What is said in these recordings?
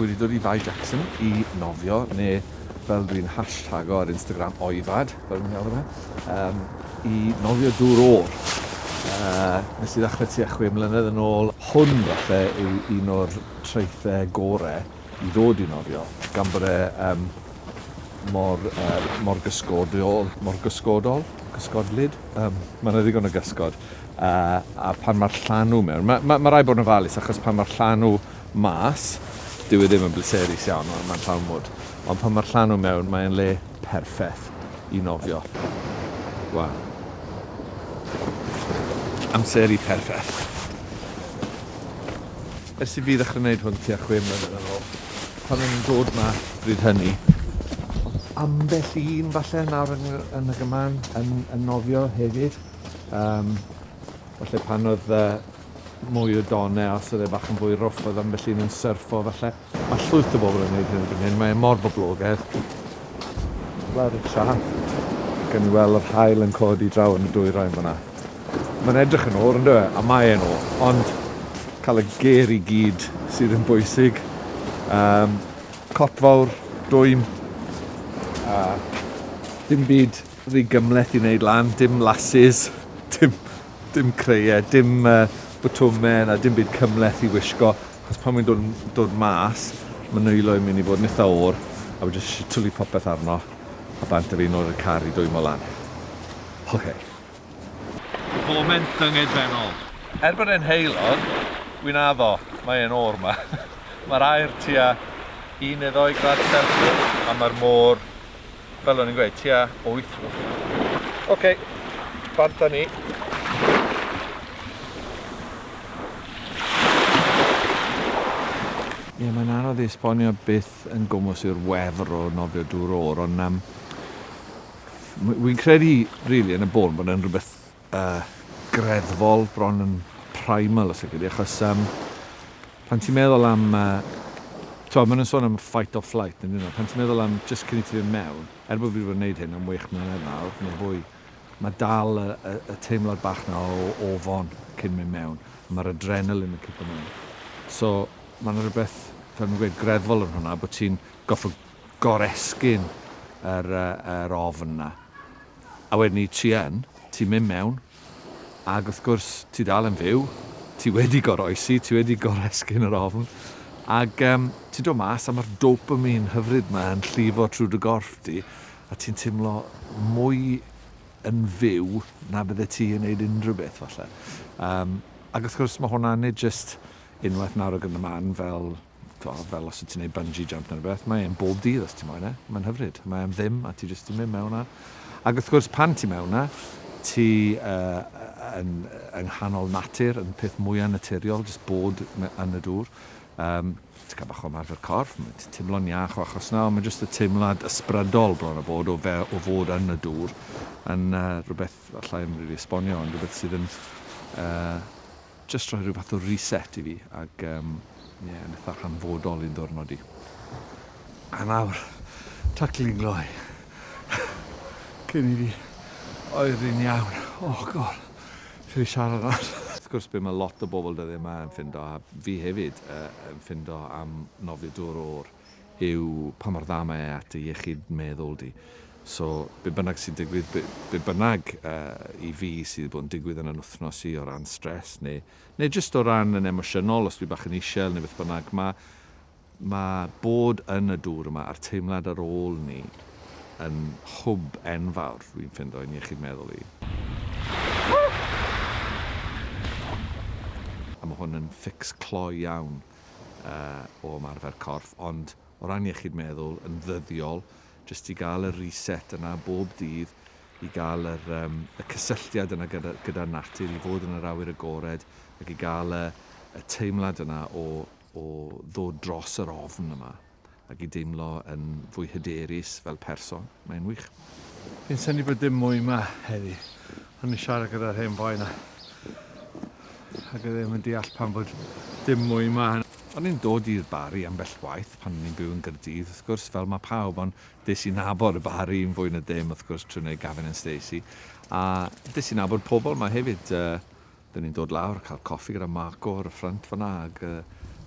wedi dod i Fae Jackson i nofio, neu fel dwi'n hashtag ar Instagram, oifad, fel dwi'n galw fe, um, i nofio dŵr ôl. Uh, nes i ddechrau tua chwe mlynedd yn ôl, hwn falle yw un o'r traethau gorau i ddod i nofio, gan bod e um, mor, er, mor gysgodol, mor gysgodol, gysgodlyd, um, mae yna ddigon o gysgod, a, a pan mae'r llanw mewn, mae ma, ma rhaid bod yn ofalus achos pan mae'r llanw mas, dyw e ddim yn bleserus iawn, mae'n ma llawn mwd, ond pan mae'r llanw mewn, mae'n le perffaith i nofio. Wel, amser i perffaith. Ers i fi ddechrau gwneud hwn tua chwe mlynedd yn ôl, pan o'n i'n dod ma bryd hynny. O'dd ambell un falle nawr yn y yn y gyman yn yn nofio hefyd yym falle pan o'dd yy mwy o don e os o'dd e bach yn fwy rwff o'dd ambell un yn syrffo falle. Ma' llwyth o bobol yn neud hyn erbyn hyn mae e mor boblogedd. Lawr y traeth gawn ni wel' yr haul yn codi draw yn y dwyrain fan 'na. Mae'n edrych yn ôl ynddo fe, a mae e'n ôl, ond cael y ger i gyd sydd yn bwysig. Um, cop fawr, dwym, a dim byd rhy gymleth i wneud lan, dim lasses, dim, dim creiau, dim uh, bwtwmau na dim byd cymleth i wisgo, achos pan mae'n dod, dod mas, mae nwylo i'n mynd i fod yn eitha o'r, a wedi jyst twlu popeth arno, a bant a fi nôl i'r car i dwymo lan. Okay. Foment dyngedfennol. Er bod e'n heulog, wi'n addo, mae e'n oer 'ma. Mae'r aer tua un neu ddou gradd Celsius a mae'r môr, fel o'n i'n gweud, tua wyth. Oce, bant â ni. Ie, mae'n anodd i esbonio beth yn gwmws yw'r wefr o nofio dŵr oer, ond yym, Wi'n credu rili yn y bôn bod e'n rhywbeth uh, greddfol, bron yn primal os ydy, achos um, pan ti'n meddwl am... Uh, Twa, maen nhw'n sôn am fight or flight, yn yno. Pan ti'n meddwl am just cyn i ti fynd mewn, er bod fi wedi gwneud hyn am wych mlynedd nawr, neu fwy, mae dal y, y, y teimlad bach na o ofon cyn mynd mewn, a mae'r adrenalin yn cico mewn. So, mae'n rhywbeth, fel ni'n gweud, greddfol yn hwnna, bod ti'n goffa goresgyn yr yr ofn 'na. A wedyn 'ny ti yn, ti'n mynd mewn, ag wrth gwrs, ti dal yn fyw, ti wedi goroesi, ti wedi goresgyn yr ofn, ag yym ti'n dod mas a ma'r dopamine hyfryd 'ma yn llifo trwy dy gorff di, a ti'n timlo mwy yn fyw na bydde ti yn neud unrhyw beth falle. Yym ag wrth gwrs ma' hwnna nid jyst unwaith nawr ag yn y man fel t'wod fel os wt ti'n neud bungee jump ne' rwbeth mae e'n bob dydd os ti moyn e. Mae'n hyfryd. Mae am ddim a ti jyst yn mynd mewn a ag wrth gwrs pan ti mewn 'na ti yy yy yn yy yng nghanol natur yn peth mwya naturiol jyst bod me- yn y dŵr. Yym ti ca'l bach o ymarfer corff ma' ti timlo'n iach o achos 'na on' ma' jyst y teimlad ysbrydol bron a bod o fe- o fod yn y dŵr yn yy rwbeth allai'm rili esbonio ond rwbeth sydd yn yy Jyst rhoi rhyw fath o reset i fi ac yym ie yn itha hanfodol i'n ddiwrnod i. A nawr taclu'n gloi cyn i fi oeri'n iawn. O God! Lle i siarad nawr? Wrth gwrs be' ma' lot o bobl dyddie 'ma yn ffindo, a fi hefyd yy yn ffindo am nofio dŵr o'r yw pa mor dda mae e at dy iechyd meddwl di. So, be bynnag sy'n digwydd, be, be bynnag uh, i fi sydd wedi bod yn digwydd yn yn wythnos i o ran stres, neu, neu jyst o ran yn emosiynol, os dwi bach yn isel neu beth bynnag, mae ma bod yn y dŵr yma a'r teimlad ar ôl ni yn hwb enfawr, dwi'n ffindo, i'n iechyd meddwl i. A mae hwn yn ffix clo iawn. o ymarfer corff, ond o ran iechyd meddwl yn ddyddiol, jyst i gael y reset yna bob dydd, i gael yr, um, y cysylltiad yna gyda, gyda natur, i fod yn yr awyr agored, ac i gael y, y teimlad yna o, o ddod dros yr ofn yma. ac i deimlo yn fwy hyderus fel person. Mae'n wych. Fi'n synnu bod dim mwy ma heddi. O'n i'n siarad gyda'r hen boi na. Ac e ddim yn deall pan bod dim mwy ma. O'n i'n dod i'r Barri ambell waith pan o'n i'n byw yn Gaerdydd, wrth gwrs, fel mae pawb, ond des i nabod y Barri yn fwy na dim, wrth gwrs, trwy wneud Gavin and Stacey, a des i nabod pobl ma hefyd, Dyn ni'n dod lawr, cael coffi gyda Marco ar y ffrynt fanna ac yy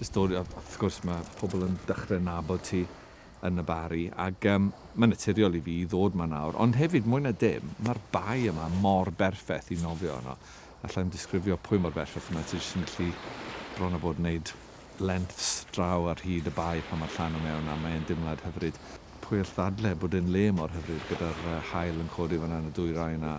jyst dod a wrth gwrs ma' pobl yn dechre nabod ti yn y Barri ac yym ma'n naturiol i fi i ddod 'ma nawr ond hefyd mwy na dim ma'r bae yma mor berffeth i nofio yno. Allai'm disgrifio pwy mor berffeth yma ti jyst yn gallu bron a bod wneud lengths draw ar hyd y bae pan ma'r llanw mewn a mae e'n dimlad hyfryd. Pwy all ddadle bod e'n le mor hyfryd gyda'r yy haul yn codi fanna yn y dwyrain a